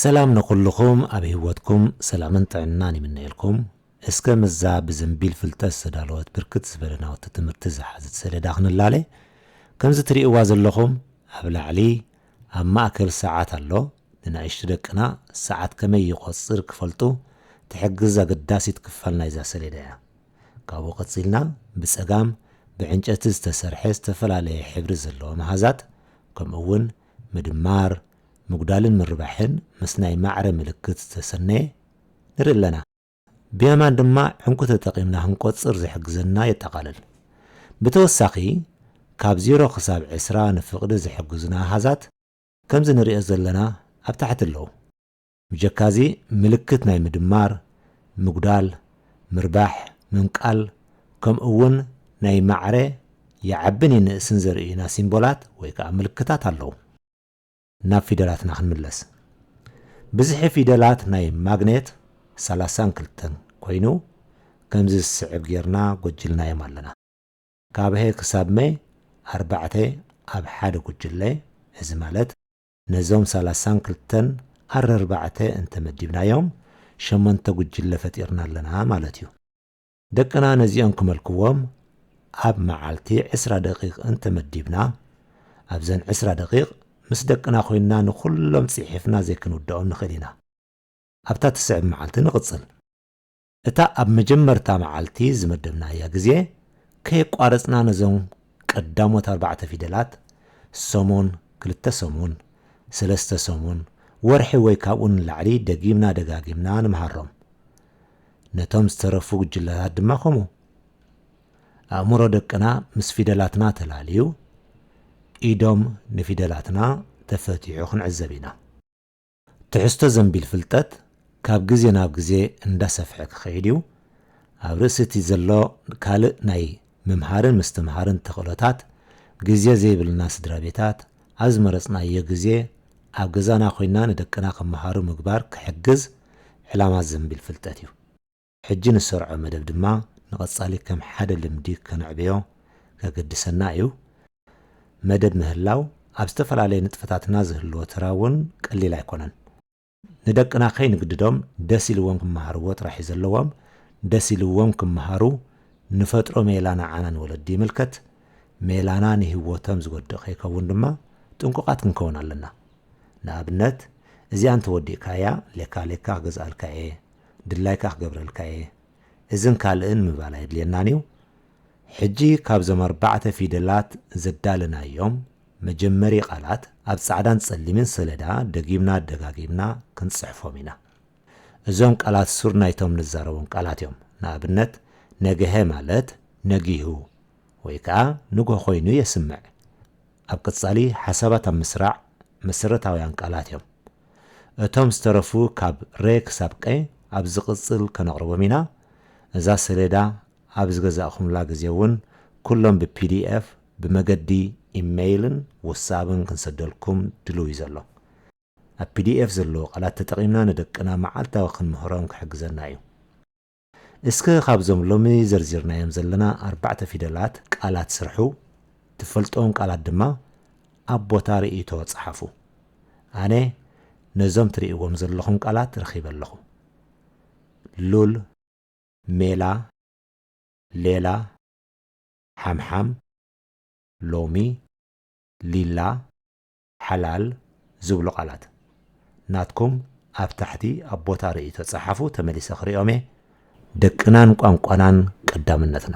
ሰላም ንኹሉኹም ኣብ ሂወትኩም ሰላምን ጥዕናን ይምነየልኩም እስከ ምስዛ ብዘንቢል ፍልጠት ዝተዳለወት ብርክት ዝበለ ናውቲ ትምህርቲ ዝሓዘት ሰሌዳ ክንላለ ከምዚ ትሪእዋ ዘለኹም ኣብ ላዕሊ ኣብ ማእከል ሰዓት ኣሎ ንናእሽቱ ደቅና ሰዓት ከመይ ይቆጽር ክፈልጡ ትሕግዝ ኣገዳሲት ክፋል ናይዛ ሰሌዳ እያ ካብኡ ቀጺልና ብጸጋም ብዕንጨቲ ዝተሰርሐ ዝተፈላለየ ሕብሪ ዘለዎ መሃዛት ከምኡ እውን ምድማር፣ ምጉዳልን ምርባሕን ምስ ናይ ማዕረ ምልክት ዝተሰነየ ንርኢ ኣለና። ብየማን ድማ ዕንቊ ተጠቒምና ክንቆጽር ዝሕግዘና የጠቓልል። ብተወሳኺ ካብ ዜሮ ክሳብ ዕስራ ንፍቕዲ ዝሕግዙና ኣሃዛት ከምዚ ንርእዮ ዘለና ኣብ ታሕቲ ኣለዉ። ብጀካዚ ምልክት ናይ ምድማር፣ ምጉዳል፣ ምርባሕ፣ ምምቃል፣ ከምኡውን ናይ ማዕረ ይዓብን ይንእስን ዘርእዩና ሲምቦላት ወይ ከኣ ምልክታት ኣለዉ። ናብ ፊደላትና ክንምለስ። ብዝሒ ፊደላት ናይ ማግኔት ሰላሳን ክልተን ኮይኑ ከምዚ ዝስዕብ ጌርና ጎጅልናዮም ኣለና። ካብ ሀ ክሳብ መ ኣርባዕተ ኣብ ሓደ ጉጅለ፣ እዚ ማለት። ነዞም ሰላሳን ክልተን ኣረርባዕተ እንተ መዲብናዮም ሸሞንተ ጉጅለ ፈጢርና ኣለና ማለት እዩ። ደቅና ነዚኦም ክመልክዎም ኣብ መዓልቲ ዕስራ ደቂቕ እንተ መዲብና፣ ኣብዘን ዕስራ ደቂቕ ምስ ደቅና ኮይንና ንኹሎም ጺሒፍና ዘይክንውድኦም ንኽእል ኢና። ኣብታ ትስዕብ መዓልቲ ንቕጽል። እታ ኣብ መጀመርታ መዓልቲ ዝመደብናያ ግዜ ከየቋረጽና ነዞም ቀዳሞት ኣርባዕተ ፊደላት፣ ሰሙን፣ ክልተ ሰሙን፣ ሰለስተ ሰሙን፣ ወርሒ ወይ ካብኡ ንላዕሊ ደጊምና ደጋጊምና ንምሃሮም። ነቶም ዝተረፉ ጉጅለታት ድማ ከምኡ። ኣእምሮ ደቅና ምስ ፊደላትና ተላልዩ፣ ኢዶም ንፊደላትና ተፈቲሑ ክንዕዘብ ኢና። ትሕዝቶ ዘንቢል ፍልጠት ካብ ግዜ ናብ ግዜ እንዳሰፍሐ ክኸይድ እዩ። ኣብ ርእሲ እቲ ዘሎ ካልእ ናይ ምምሃርን ምስትምሃርን ተኽእሎታት፣ ግዜ ዘይብልና ስድራቤታት፣ ኣብ ዝመረጽናዮ ግዜ ኣብ ገዛና ኮይና ንደቅና ክመሃሩ ምግባር ክሕግዝ ዕላማ ዘንቢል ፍልጠት እዩ። ሕጂ ንሰርዖ መደብ ድማ ንቐጻሊ ከም ሓደ ልምዲ ከነዕብዮ ከገድሰና እዩ። መደብ ምህላው ኣብ ዝተፈላለየ ንጥፈታትና ዝህልዎ ተራ እውን ቀሊል ኣይኮነን። ንደቅና ከይንግድዶም ደስ ኢልዎም ክመሃርዎ ጥራሕ እዩ ዘለዎም። ደስ ኢልዎም ክመሃሩ ንፈጥሮ ሜላ ንዓና ንወለዲ ይምልከት። ሜላና ንህይወቶም ዝጎድእ ከይከውን ድማ ጥንቁቓት ክንከውን ኣለና። ንኣብነት እዚኣ እንተወዲእካያ ሌካ ሌካ ክገዝኣልካ እየ፣ ድላይካ ክገብረልካ እየ እዝን ካልእን ምባል ኣየድልየናን እዩ። ሕጂ ካብዞም ኣርባዕተ ፊደላት ዘዳለናዮም መጀመሪ ቃላት ኣብ ጻዕዳን ጸሊምን ሰለዳ ደጊምና ደጋጊምና ክንጽሕፎም ኢና። እዞም ቃላት ሱር ናይቶም ንዛረቦም ቃላት እዮም። ንኣብነት ነገሀ ማለት ነጊሁ ወይ ከኣ ንግሆ ኮይኑ የስምዕ። ኣብ ቀጻሊ ሓሳባት ኣብ ምስራዕ መሰረታውያን ቃላት እዮም። እቶም ዝተረፉ ካብ ረ ክሳብ ቀ ኣብ ዝቕጽል ከነቕርቦም ኢና። እዛ ሰሌዳ ኣብ ዝገዛእኩምላ ግዜ እውን ኩሎም ብpdf ብመገዲ ኢመይልን ዎትስኣብን ክንሰደልኩም ድሉው እዩ ዘሎ። ኣብ pdf ዘለዉ ቃላት ተጠቒምና ንደቅና መዓልታዊ ክንምህሮም ክሕግዘና እዩ። እስከ ካብዞም ሎሚ ዘርዚርናዮም ዘለና ኣርባዕተ ፊደላት ቃላት ስርሑ፣ ትፈልጥዎም ቃላት ድማ ኣብ ቦታ ርእይቶ ጸሓፉ። ኣነ ነዞም ትርእይዎም ዘለኹም ቃላት ረኺበ ኣለኹ። ሉል። ሜላ። ሌላ። ሓምሓም። ሎሚ። ሊላ። ሓላል ዝብሉ ቃላት ናትኩም ኣብ ታሕቲ ኣብ ቦታ ርእይቶ ጸሓፉ ተመሊሰ ክሪኦም እየ። ደቅናን ቋንቋናን ቀዳምነትና።